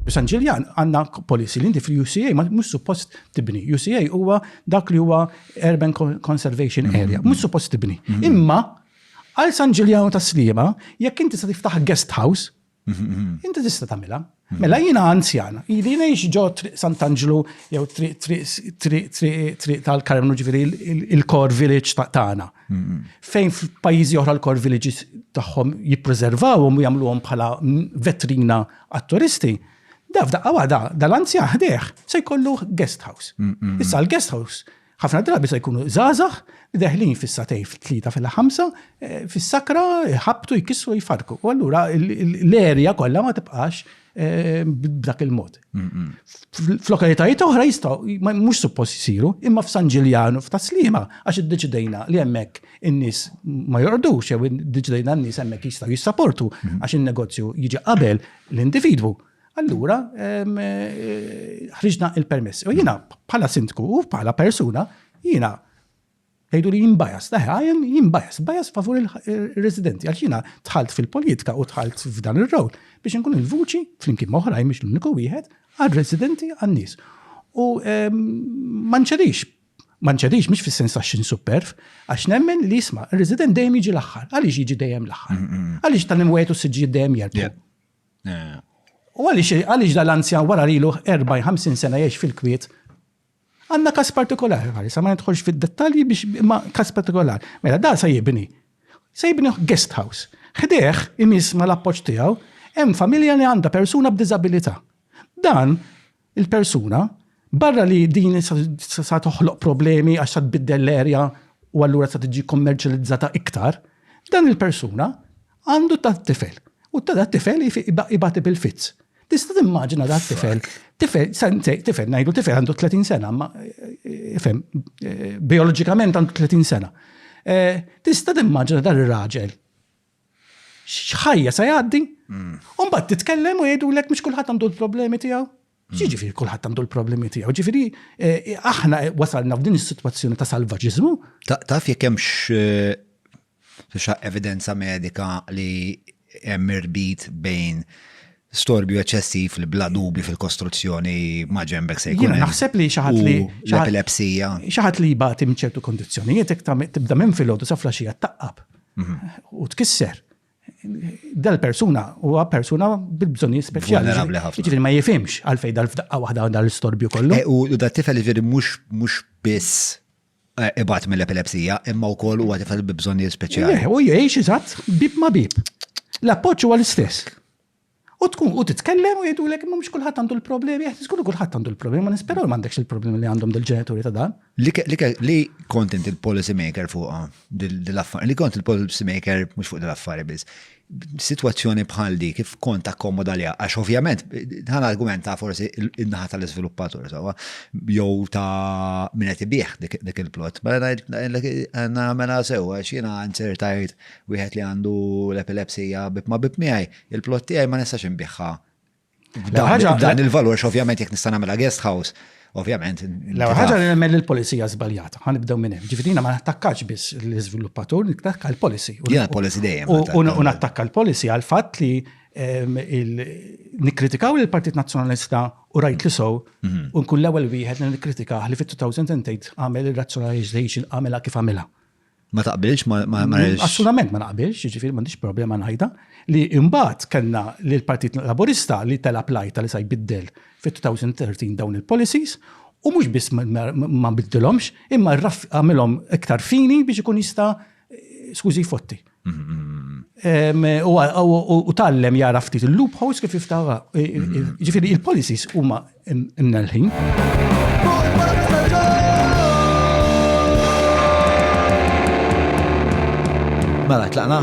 San Ġiljan għandna policy li inti fil-UCA ma mhux suppost tibni. UCA huwa dak li huwa Urban Conservation mm-hmm. Area, mhux suppost tibni. Mm-hmm. Imma għal San Ġiljan ta' Slima, jekk inti se tiftaħ guest house, mm-hmm. inti tista' tagħmilha. Mela jina anzjan, jili nejx ġo triq Sant'Angelo jew triq tal-Karmnu ġifiri il-core village tagħna. Fejn f'pajjiżi oħra l-core villages tagħhom jippreservawhom u jagħmluhom bħala vetrina għat-turisti, da f'daqqa waħda dal-anzja ħdejh se jkollu guest house. Issa l-guest house ħafna drabi se jkunu żgħażagħ li deħlin fis-satej fit-tlieta fil-ħamsa eh, fis-sakra jħabtu jkissru jfarku. U allura l-erja kollha ma tibqax Eh, b'dak il-mod. F'lokalitajiet oħra jistaw, mux suppost jisiru, imma f'San Ġiljanu, f'Taslima, għax id-deċidejna li hemmhekk in-nies ma jordux, jew id-deċidejna n-nies hemmhekk jistgħu jissaportu għax in-negozju jiġi qabel l-individwu. Allura, eh, ħriġna il-permess. U jiena bħala sindku u bħala persuna, jiena Tgħidu li jien bias, ta' ħajen jien bias, bias favur il-residenti, għal xina tħalt fil-politika u tħalt f'dan ir-rowl biex nkun il-vuċi, flimkien moħrajn biex l-uniku wieħed, għal-residenti għan-nies. U ehm, manċedix, manċedix mhix fis-sens ta' xin superf, għax nemmen li jisma' ir-resident dejjem jiġi l-aħħar, għaliex jiġi dejjem l-aħħar. Mm, mm, mm. Għaliex tal-hemm wieħed u s-siġġijiet dejjem jerbu. U għaliex għaliex dal-anzjan wara lilu 40-50 sena jgħix fil-kwiet Għandna każ partikolari, ħari, sa ma nidħolx fid-dettalji biex imma każ partikolari. Mela da se jibni. Se jibni guest house. Ħdejh imiss mal-appoġġ tiegħu hemm familja li għandha persuna b'diżabilità. Dan il-persuna barra li din sa toħloq problemi għax sa tbiddel l-erja u allura sa tiġi kommerċjalizzata iktar, dan il-persuna Għandu tat-tifel. U ta' dat-tifel ibati bil-fizz. Tista' timmaġina dat-tifel. Tifel, tifel, ngħidu tifel għandu 30 sena, ma eh, ifhem, eh, bioloġikament għandu 30 sena. Eh, tista' timmaġina dan ir-raġel xħajja sa jgħaddi, mm. un bat titkellem u jgħidu l-ek mux kullħat għandu l-problemi tijaw. Ġifieri kulħadd għandu l-problemi tiegħu. Ġifieri eh, aħna wasalna f'din is-sitwazzjoni ta' salvaġiżmu. Taf jekk hemmx eh, evidenza medika li hemm irbit bejn storbju eċessiv li bla dubi fil-kostruzzjoni ma ġembek se jkun. Naħseb li xaħat li. L-epilepsija. Xaħat li jibati mċertu kondizjonijiet, tibda minn fil-ħodu safla xija taqqab mhm. u tkisser. dal-persuna huwa persuna bil-bżonni speċjali. Ġifieri ma jifimx għalfej dal-fdaqqa waħda għandha l-istorbju kollu. Eh, u da tifel ġifieri mhux mhux biss eh, ibat mill-epilepsija, imma wkoll huwa tifel bi bżonni speċjali. Eh, u jgħix iżatt bib ma bib. L-appoġġ huwa l-istess. U tkun u titkellem u jgħidulek imma mhux kulħadd għandu l-problemi, qed żgur kulħadd għandu l-problemi, ma nisperaw li m'għandekx il-problemi li għandhom dil-ġenituri ta' dan. Li kont int il-policy maker fuqha, li kont il-policy maker mhux fuq dil-affari biss. Situazzjoni bħal di kif kont akkomoda li għax ovvjament dan argument ta' forsi in-naħa tal-iżviluppatur sawa jew ta' min qed ibih dik il-plot. Mela ngħidlek mela sew għax jiena insertajt wieħed li għandu l-epilepsija bib ma' bib miegħi Il-plot tiegħi ma nistax inbiħħa Dan il-valur, ovvjament, jek nista' nagħmilha guest house, ovvjament. La ħaġa li nemmel il-polizija żbaljata, ħan nibdew minn hemm. Ġifieri ma nattakkax biss l-iżviluppatur, nattakka l-policy. Ja, policy dejjem. U nattakka l-policy għal fatt li ehm, nikkritikaw il-Partit Nazzjonalista u rajt li sow, mhm. u nkun l-ewwel wieħed li nikkritikaħ li fit-2008 għamel ir-razzjonalization għamela kif għamela. Ma taqbilx ma marriġ. Assolutament ma naqbilx, ġifir m'għandix problema ngħidha li imbagħad kellna li l-Partit Laburista li tela plajta li sa jbiddel fit-2013 dawn il-policies u mhux biss ma biddilhomx imma għamilhom iktar fini biex ikun jista' skużi fotti. U tallem jara ftit il-loopholes kif jiftawa. Ġifiri il-policies huma Imna l-ħin. Mela, tlaqna.